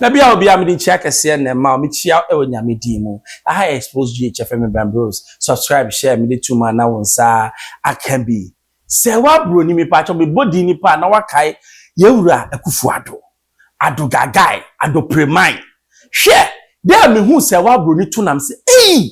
Na bia obi a mede nkyia kɛseɛ na ɛma wo mekyia wo wɔ nyame din mu aha yɛ expose GH yɛfrɛ me Ben Bros subscribe share mede to ma na wo nsa aka bi sɛ wo abroni mepakyɛw mebɔ din nipa a na wakae yɛ wura Akuffo Addo Addo Gagae Addo Premain hwɛ dɛ mehu sɛ wo abroni to nam sɛ eii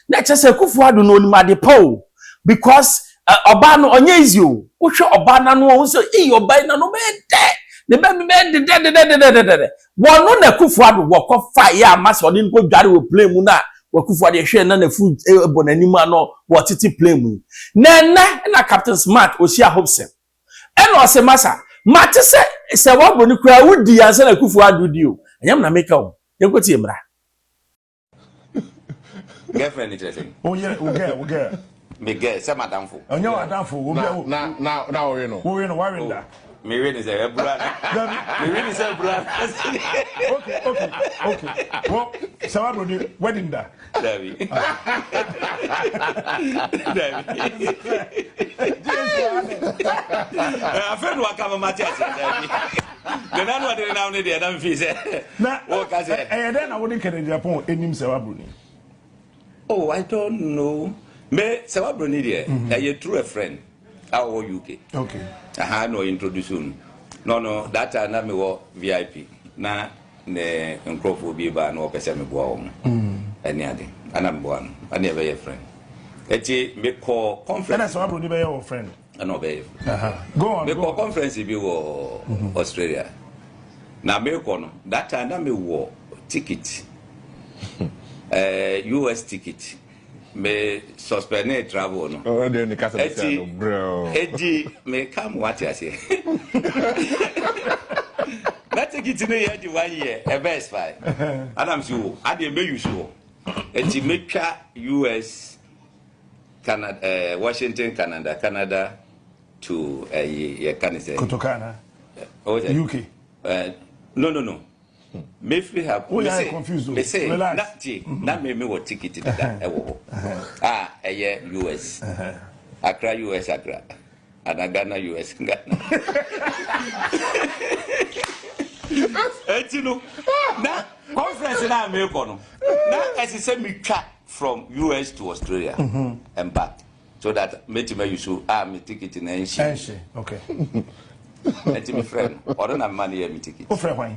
Na kyerɛ sɛ Akufo Addo no onim ade pa o because ɔbaa no ɔnyɛ easy o. Wohwɛ ɔbaa no ano a wohu sɛ ei ɔbaa yi n'ano bɛyɛ dɛ, ne bɛ no bɛyɛ dedɛdedɛdedɛdedɛdɛ. Wɔno na Akufo Addo wɔkɔ fa yɛ ama sɛ ɔde no kɔ dware wɔ plane mu na Akufo Addo yɛhwɛ na n'afu bɔ n'anim a na wɔtete plane mu yi. Na ɛnɛ na Captain Smart ohyia Hobson ɛna ɔse masa mate sɛ sɛ wɔbɔ no koraa wodi ansa na Akufo Addo di o. Ɛnyɛ me na meka o, yɛnkɔ tie mmra. girlfriend ni kyerɛ sɛ. o yɛ o gɛ o gɛ. mi gɛ sɛ ma danfo. ɔ nyɛ wa danfo o bɛ o. na na na o wi no. o wi no wa wi da. mi wi ni sɛ ɛ bura na. mi wi ni sɛ bura na. ok ok ok wɔ sɛ wa bolo de wedding da. dabi dabi. afɛn wa kama ma ti a sɛ dabi. Nana no ɔde nenam no deɛ na mfii sɛ wɔka sɛ. Ɛyɛ dɛn na wode nkɛnɛgyinapɔn anim sɛ wabroni? Oh, I don't know. Me sɛ wabroni deɛ mhm. ɛyɛ true a friend a ɔwɔ UK. Okay. Aha na ɔyɛ introduce no. No no that time na mewɔ VIP na ne nkurɔfoɔ bi ba na wɔpɛ sɛ meboa wɔn. Mm. Ɛne ade. Ana meboa no. Ɛne ɛbɛyɛ friend. Ɛti mekɔ conference. Ɛna sɛ wabroni bɛyɛ wɔ friend. ɛna ɔbɛyɛ fo mekɔ conference bi wɔ mm-hmm. australia na mekɔ no that time na mewɔ ticket eh, us ticket me suspend ne travel no ɛti ɛdi meka mo wate aseɛ na ticket no yɛ de one year ɛbɛ expire anam si wo adeɛ mɛyusu hɔ ɛti mɛtwa us Canada eh, Washington, Canada, Canada to eh, yɛ ka ne sɛ. Kotoka na. Oh, sɛ. UK. Eh, no no no. Me free her. Oh, yeah, I'm confused. Me say, relax. Na, ti, mm-hmm. na me me wɔ ticket dida ɛwɔ hɔ. Ah, ɛyɛ US. Accra, US, Accra. Ana Ghana US Ghana. Eti no na conference na me kɔ no na ɛsɛ sɛ me twa from US to Australia mm-hmm. mpa so that meti ma yusu a ah, me ticket na nshi. Nshi okay. Eti me friend ɔno na me ma ne yɛ me ticket. O friend hwan?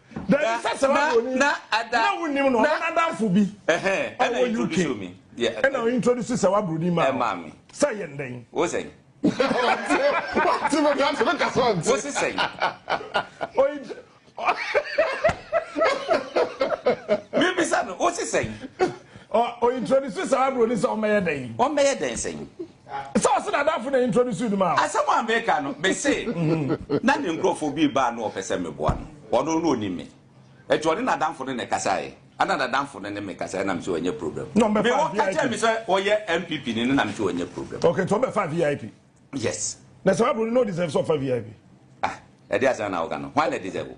Dɛn ne sɛ sɛ mabroni na wonim no ɔno n'adamfo bi a ɔwɔ UK ɛna ɔintroduce sɛ wabroni ma wo sɛ yɛn dɛn? Wo sɛn? Wate me ka sɛ me ka sɛ ɔnte. Wo se sɛn? Mebisa no wo se sɛn? Ɔintroduce sɛ wabroni sɛ ɔmmɛyɛ dɛn? Ɔmmɛyɛ dɛn sɛn? Sɛ ɔse n'adamfo na introduce no ma wo. Asɛm a meka no, mese na ne nkurɔfoɔ bi reba a na wɔpɛ sɛ meboa no. Ɔno na ɔnim me. Nti ɔne n'adamfo no na ɛkasaeɛ. Ɛna n'adamfo no ne me kasaeɛ na mese ɔnyɛ problem. Na ɔmbɛfaa VIP. Me wɔka kyerɛɛ me sɛ ɔyɛ NPP ni no na mese ɔnyɛ problem. Okay, nti ɔmbɛfaa VIP. Yes. Na saa bro no na ɔdeserve sɛ ɔfa VIP? Ah, ɛdeɛ asɛn na woka no. Hwan na ɛdeserve o?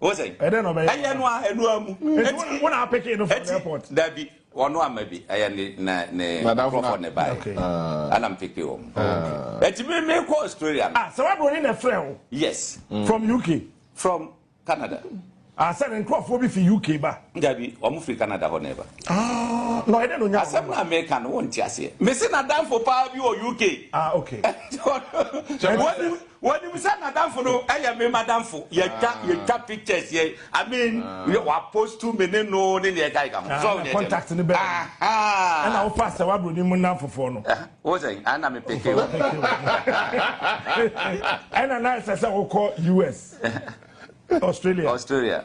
o sɛ ɛdɛ na ɔbɛyɛ ɛyɛ no a ɛno amu eti wɔn a apɛkɛ no from airport dabi wɔn no ama bi ɛyɛ ne na ne nkurɔfoɔ ne ba yɛ ɛna m peke wɔn eti mi mi kɔ Australia no. ah sɛ wa broni na ɛfrɛ o. yes. Mm. from UK. from Canada. ah sɛ ne nkurɔfoɔ bi fi UK ba. dabi wɔn firi Canada hɔ na ɛba. ah na ɔyɛ dɛ na onya wɔn. asɛm na meka no wɔn ti aseɛ mesi na danfo paa bi wɔ UK. ah okay. Wɔnim sɛ nadamfo no yɛ me madamfo, yɛtwa yɛtwa pictures yɛ I mean yɛ wapostu me ne no ne nea ɛka ɛka ho. So ɔnyɛ contact ne bɛn. Ɛna wo pastor w'abroni mu nnamfofoɔ no. Wo sɛ ana me peke wo. Ɛna na ɛsɛ sɛ wokɔ US, Australia. Australia.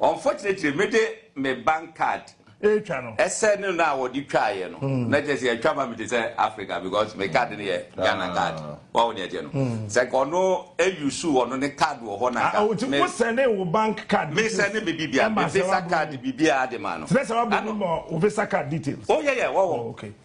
Unfortunately me de me bank card ɛretwa no. Ɛsɛ ne no a wɔde twaeɛ no na kyerɛ sɛ yɛatwa ma me te sɛ Africa because me card no yɛ Ghana card wawo ne ɛteɛ no sɛ nka ɔno ɛyusu ɔno ne card wɔ hɔ na nka me wo sɛne wo bank card me sɛne me bibia me visa card bibia de ma no kyerɛ sɛ wabɔ mu ma wo visa card details oh yeah yeah wawo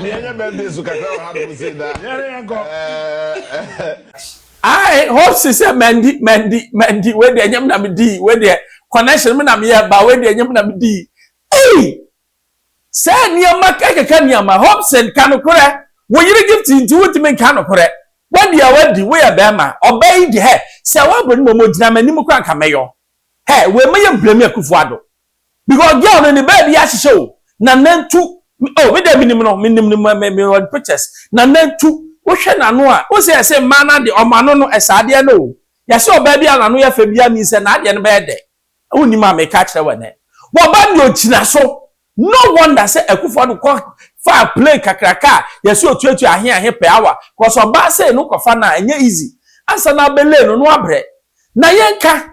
Yɛnyɛ birthday so kakra wɔ hanom sei da. Yɛne yɛnkɔ. I hope si sɛ mandi mandi mandi wei deɛ nyɛ me na medi wei deɛ connection me na meyɛ ba wei deɛ nyɛ me na medi. Ei! Sɛ nneɛma kɛkɛkɛ nneɛma Hobson ka nokorɛ wo yere gift nti wontumi nka nokorɛ wadi a wadi woyɛ bɛrima ɔbaa yi deɛ hɛ sɛ wabɔ ne mmom ogyina m'anim koraa nka mɛyɔ hɛ wei mɛyɛ blame Akufo-Addo Because girl no ne baabi ahyehyɛ o. Na nantu oh me deɛ menim no menim no me me wɔ pictures. Na nantu wohwɛ n'ano a wohu sɛ yɛse mmaa no adeɛ wɔn ano no ɛsɛ adeɛ no o. Yɛse ɔbaa bi a n'ano yɛ fɛ biara means sɛ n'adeɛ no bɛyɛ dɛ. Wonnim a meka akyerɛ wo ɛnɛ. Wɔba deɛ ogyina so. No wonder sɛ Akuffo Addo kɔ faa plane kakraka a yɛse otuatua ahe ahe per hour because ɔbaa sei no wokɔfa no a ɛnyɛ easy. Ansa na abelay no na wabrɛ. Na yɛnka